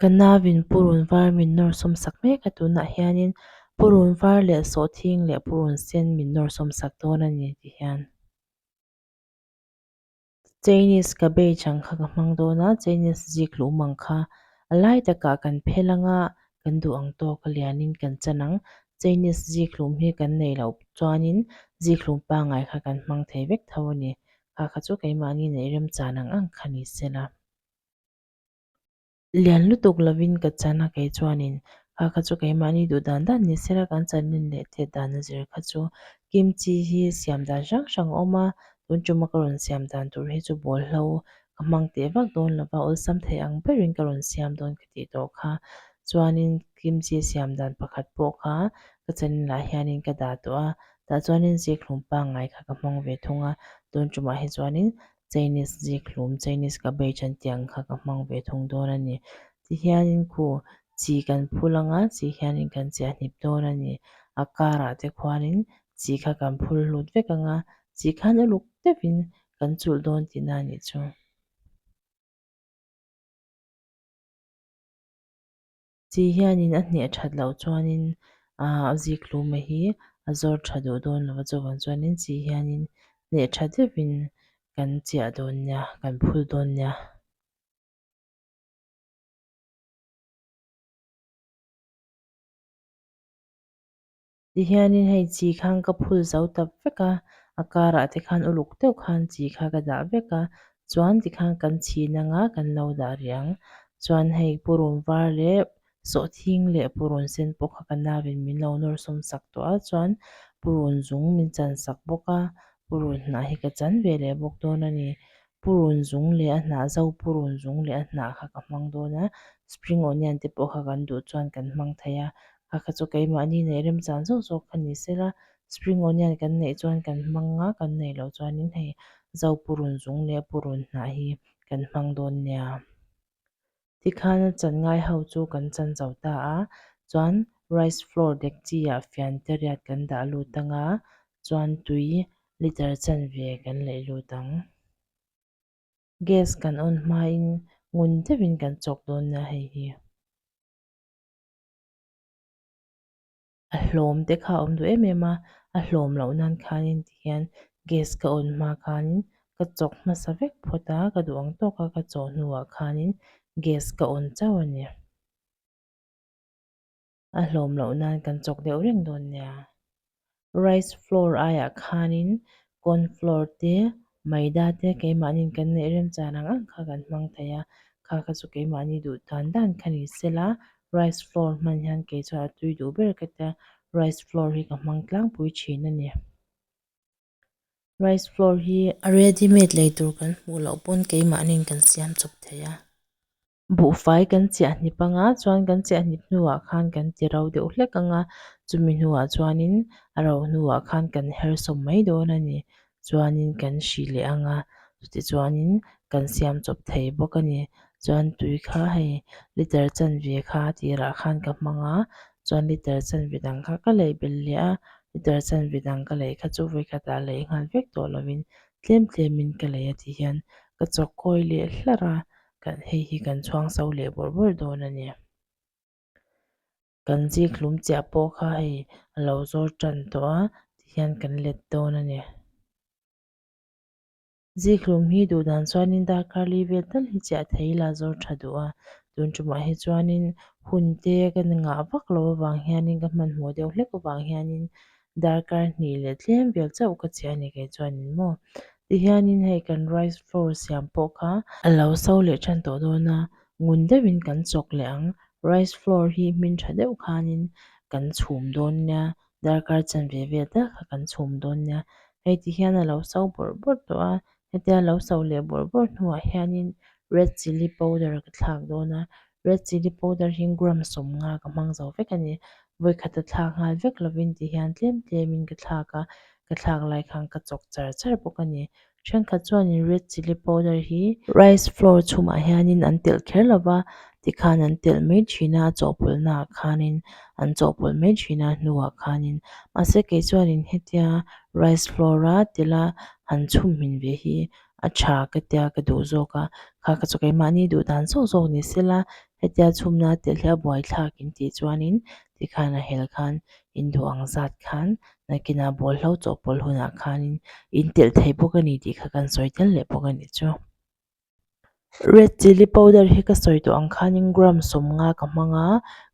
Ka navin purun var min nawr sawm sak mek a tunah hianin purun var leh sawhthing leh purun sen min nawr sawm sak dawn a ni ti hian Chinese ka bei chang kha ka hmang dawn a, Chinese zik luh mang kha a lai takah kan phel ang a, kan duh ang tawk a lianin kan chan ang, Chinese zik hlum hi kan nei loh chuanin zik hlum pangai kha kan hmang thei vek tho a ni, kha kha chu keimahni neih rem chan ang ang kha ni sela. lian lutuk lovin ka chan a kei chuanin kha kha chu keimahni duh dan dan ni sera kan chanin leh thet dan a zir kha chu kimchi hi siam dan hrang hrang a awm a tun tuma ka rawn siam dan tur hi chu bawl hlo ka hmang teh vak dawn lo va awlsam thei ang berin ka rawn siam dawn ka tih tawh kha chuanin kimchi siam dan pakhat pawh kha ka chanin lah hianin ka dah tawh a tah chuanin zikhlum pangngai kha ka hmang ve thung a tun tumah hi chuanin Chinese zîk hlûm, Chinese cabbage an tih ang kha ka hmang ve thung dâwn a ni. Ti hianin khu chi kan phûl ang a, chi hianin kan chhiah hnîp dâwn a ni. A kârah te khuanin chi kha kan phûl hlût vek ang a, chi khân uluk deuhin kan chûlh dâwn tihna a nih chu. Chî hianin a hneh ṭhat loh chuanin aa a zîk hlûma hi a zawr ṭha duh dâwn lo a, chuvang chuanin chî hianin hneh ṭha deuhin kan chiah dâwn nia, kan phûl dâwn nia. Tihianin hei chi khan ka phul zo ta vek a, a karah te khan uluk deuh khan chi kha ka dah vek a, chuan tikhan kan chhin anga kan lo dah rih ang. Chuan hei purun var leh sawhthing leh purun sen pawh kha ka navin min lo nawr sawm sak tawh a, chuan purun zung min chansak bawk a, purun hnah hi ka chan ve leh bawk dawn a ni. purun zung leh a hnah zo purun zung leh a hnah kha ka hmang dawn a spring onion te pawh kha kan duh chuan kan hmang thei a a kha chu keimahni neih rem chan zawk zawk kha ni se la spring onion kan neih chuan kan hmang a kan neih loh chuanin hei zo purun zung leh purun hnah hi kan hmang dawn nia. Ti khan a chan ngai ho chu kan chan zo ta a, chuan rice flour dekchi ah fian te riat kan dah lut ang a, chuan tui liter chan ve kan laih lut ang. Gas kan on hmain ngun deuh in kan chawk dawn a hei hi. a hlawm te kha a awm duh em em a a hlawm loh nan khanin tihian gas ka on hma khanin ka chawk hmasa vek phawt a ka duh ang tawk a ka chaw hnuah khanin gas ka on chauh a ni a hlawm loh nan kan chawk deuh reng dawn nia rice floor aiah khanin Cornflour te, maida te keimahni'n kan neih remchang rang ang kha kan hmang thei a, kha kha chu keimahni duh dan dan kha ni sel a, rice flour hman hian kei chuan a tui duh ber ka tia, rice flour hi ka hmang tlangpui thin a ni. Rice flour hi. Ready made lei tur kan hmuh loh pawn keimahni'n kan siam chawp thei a. Buhfai kan chiahnip anga chuan kan chiahnip hnuah khan kan ti ro deuh hlek ang a, chumi hnuah chuanin a ro hnuah khan kan herhsawm mai dawn a ni. Chuanin kan hri leh ang a, tichuanin kan siam chawp thei bawk a ni. Chuan tui kha hei liter chanve kha tirah khan ka hmang a, chuan liter chanve dang kha ka laih bel leh a, liter chanve dang ka laih kha chu vei khatah laih nghal vek tawh lovin tlem tlemin ka laih a ti hian ka chawk kawi leh hlar a. kan hei hi kan chhuang so leh bawrh bawrh dawn a ni kan zikhlum chiah pawh kha hei a lo zawr tan tawh a ti hian kan let dawn a ni zikhlum hi duh dan chuan in darkar li vel tal hi chiah theih ila zawr tha duh a tun tumah hi chuan in hun te kan ngah vak lo avang hian in ka hmanhmawh deuh hlek avang hian in darkar hnih leh tlem vel chauh ka cheh a ni kei chuan in maw ti hianin hei kan rice flour siam pawh kha a lo so leh than tawh dawn a, ngun deuh in kan chawk leh ang rice flour hi hmin tha deuh khan in kan chhum dawn nia darkar chan ve ve tak kha kan chhum dawn nia hei ti hian a lo so bawrh bawrh tawh a Hetia lo sauh leh bawrh bawrh hnuah hianin red chilli powder ka thlak dawn a, red chilli powder hi gram sawmnga ka hmang zo vek a ni. Vawikhata thlak nghal vek lovin ti hian tlem tlemin ka thlak a, ka thlak lai khan ka chawk char char bawk a ni. Thenkhat chuanin red chilli powder hi rice flour chhumah hianin an telh kher lova, tikhan an telh mai thin a a chawhpawlhnaah khanin an chawhpawlh mai thin a a hnuah khanin mahse kei chuanin hetia rice flour a telh a han chhumhmin ve hi a tha ka tia ka duh zawk a kha ka chaw keimahni duh dan zawk zawk ni se la hetia chhumna a telh hi a buai thlak intih chuanin tikhan a hel khan induh ang zat khan nakinah bawlhlo chawhpawlh hunah khanin intelh thei bawk a ni tih kha kan sawi tel leh bawk a ni chu. Red chilli powder hi ka sawi tawh ang khanin gram sawmnga ka hmang a,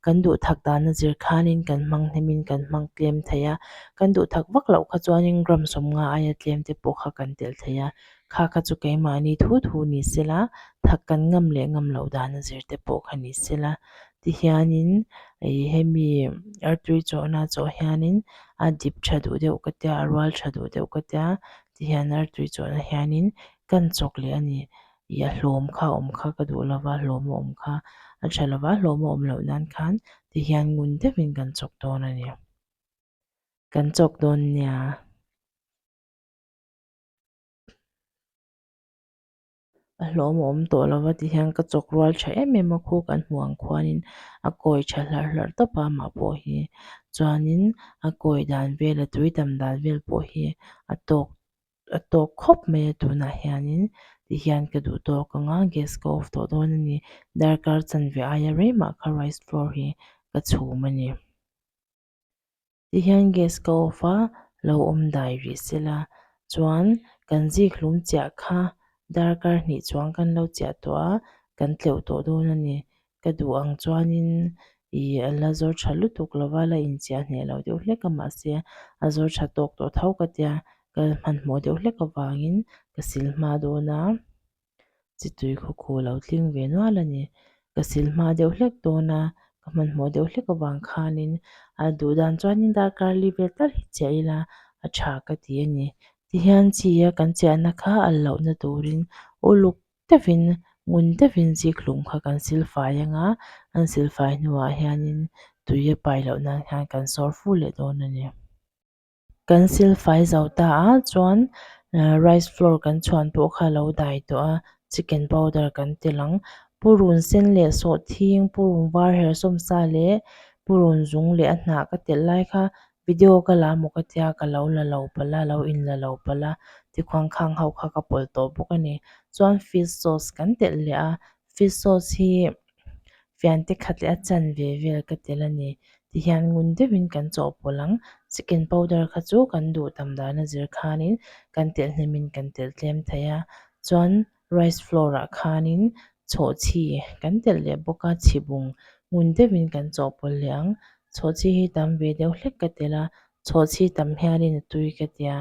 kan duhthak dana zir khanin kan hmang hnemin kan hmang tlem thei a, kan duhthak vak loh kha chuanin gram sawmnga aia tlem te pawh kha kan telh thei a, kha kha chu keimahni thu thu ni se la thak kan ngam leh ngam loh dana zir te pawh kha ni se la ti hianin ih hemi artery chawhna chawh hianin a dip tha duh deuh ka tia a rual tha duh deuh ka tia. ti hian artui chuan ah hianin kan chawk leh a ni i a hlawm kha a awm kha ka duh lo va hlawm a awm kha a tha lo va hlawm a awm loh nan khan ti hian ngun deuhin kan chawk dawn a ni kan chawk dawn nia. a hlawm a awm tawh lo va ti hian ka chawk rual tha em em a khu kan hmu ang khuanin a kawi tha hlar hlar tawp a mah pawh hi chuanin a kawi dan vel a tui tam dan vel pawh hi a tawk a tawk khawp mai a tunah hianin ti hian ka duh tawk ang a gas ka off tawh dawn a ni darkar chanve aia rei mah kha rice floor hi ka chhum a ni. Tihian gas ka off a, lo awm dai rih se la. Chuan kan zikhlum chiah kha darkar hnih chuan kan lo chiah tawh a, kan tleuh tawh dawn a ni. Ka duh ang chuanin ih a la zawr tha lutuk lo va, la inchiah hneh lo deuh hlek a mah se a zawr tha tawk tawh tho ka tia ka hmanhmawh deuh hlek avangin ka silhma dawn a. chitui khaw khaw lo tling ve nual a ni. Ka silhma deuh hlek dawn a, ka hmanhmawh deuh hlek avang khanin a duh dan chuanin darkarli vel tlar hi chiah ila a tha ka ti a ni. Tihian chi a kan chiahna kha al lohna turin uluk deuhin ngun deuhin zikhlum kha kan silfai ang a, an silfai hnuah hianin tui a pai loh nan hian kan sawr fur leh dawn a ni. Kan silfai zau ta a chuan rice flour kan chhuan pawh kha lo dai tawh a chicken powder kan tel ang purun sen leh sawhthing purun var her sawm sa leh purun zung leh a hnah ka telh lai kha video ka la maw ka tia ka lo la lo pal a lo in la lo pal a tikhang khang ho kha ka pawlh tawh bawk a ni chuan fish sauce kan telh leh a fish sauce hi-- fiante khat leh a chan ve vel ka tel a ni tihian ngun deuhin kan chawhpawlh ang chicken powder kha chu kan duh tam dana zir khanin kan telhnem kan tel tlem thei a chuan rice flour ah khanin chhawhchhi kan telh leh bawk a chhibung ngun deuhin kan chawhpawlh leh ang chhawhchhi hi tam ve deuh hlek ka tel a. Chhawh chhi tam hianin a tui ka tia,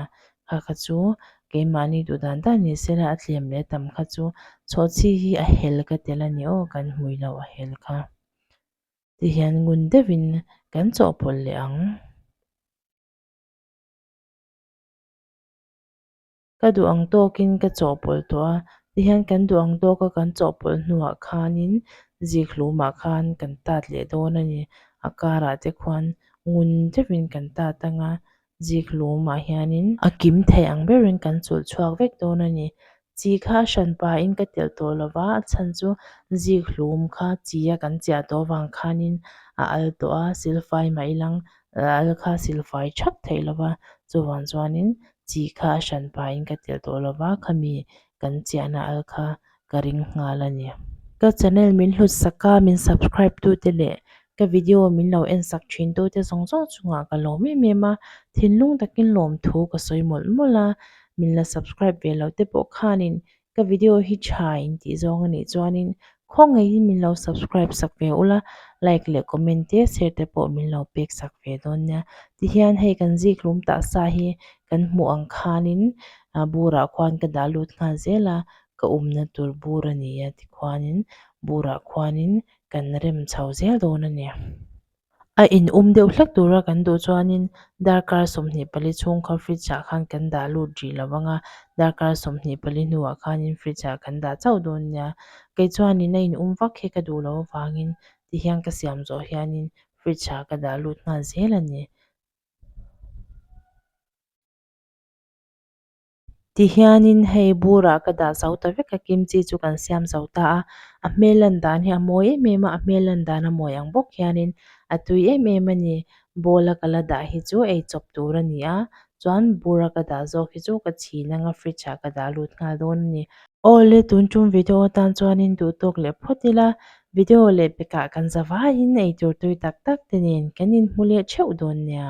kha kha chu keimahni duh dan dan ni sela a tlem leh tam kha chu chhawh chhi hi a hel ka tel a ni aw kan hmui lo a hel kha ti hian ngun deuhin kan chawhpawlh leh ang. ka duh ang tawkin ka chawhpawlh tawh a, tihian kan duh ang tawka kan chawhpawlh hnuah khanin zikhlumah khan kan tat leh dawn a ni, a karah te khuan ngun deuhin kan tat ang a, zikhlumah hianin a kim thei ang berin kan chulh chhuak vek dawn a ni, chi kha a hran pahin ka telh tawh lova a chhan chu zikhlum kha chia kan chiah tawh avang khanin a al tawh a, silfai mah i lang a al kha silfai thap theih lova, chuvang chuanin chi kha a hran pahin ka telh tawh lo va, khami kan chiahna al kha ka ring nghal a ni. Ka channel min hlutsak a, min subscribe tu te leh ka video min lo en sak thin tu te zawng zawng chungah ka lawm em em a, thinlung takin lawmthu ka sawi mawlh mawlh a, min la subscribe ve lo te pawh khanin ka video hi tha in tih zawng a nih chuanin khawngaih in min lo subscribe sak ve ula like leh comment te share te pawh min lo pek sak ve dawn nia tihian hei kan zikhlum ta sa hi kan hmuh ang khanin ah burah khuan ka dah lut nghal zel a ka awmna tur bur a nia tikhuanin burah khuanin kan rem chho zel dawn a nia. A inum deuh hlek tura kan duh chuanin darkar sawmhnih pali chhung kha fridge ah khan kan dah lut ri lo vang a, darkar sawmhnih pali hnuah khanin fridge ah kan dah chauh dawn nia. Kei chuanin a inum vak hi ka duh loh avangin tihian ka siam zawh hianin fridge ah ka dah lut nghal zel a ni. Ti hianin hei bura ka dah zo ta vek a, kimchi chu kan siam zo ta a, a hmel lan dan hi a mawi em em a, a hmel lan dan a mawi ang bawk hianin a tui em em a ni. Bowl a ka la dah hi chu ei chawp tur a ni a, chuan bura ka dah zawk hi chu ka chhin anga fridge ah ka dah lut nghal dawn a ni. Aw le tun chung video atan chuanin duhtawk leh phawt ila, video leh bekah kan za vaiin eitur tui tak tak te nen kan inhmu leh theuh dawn nia.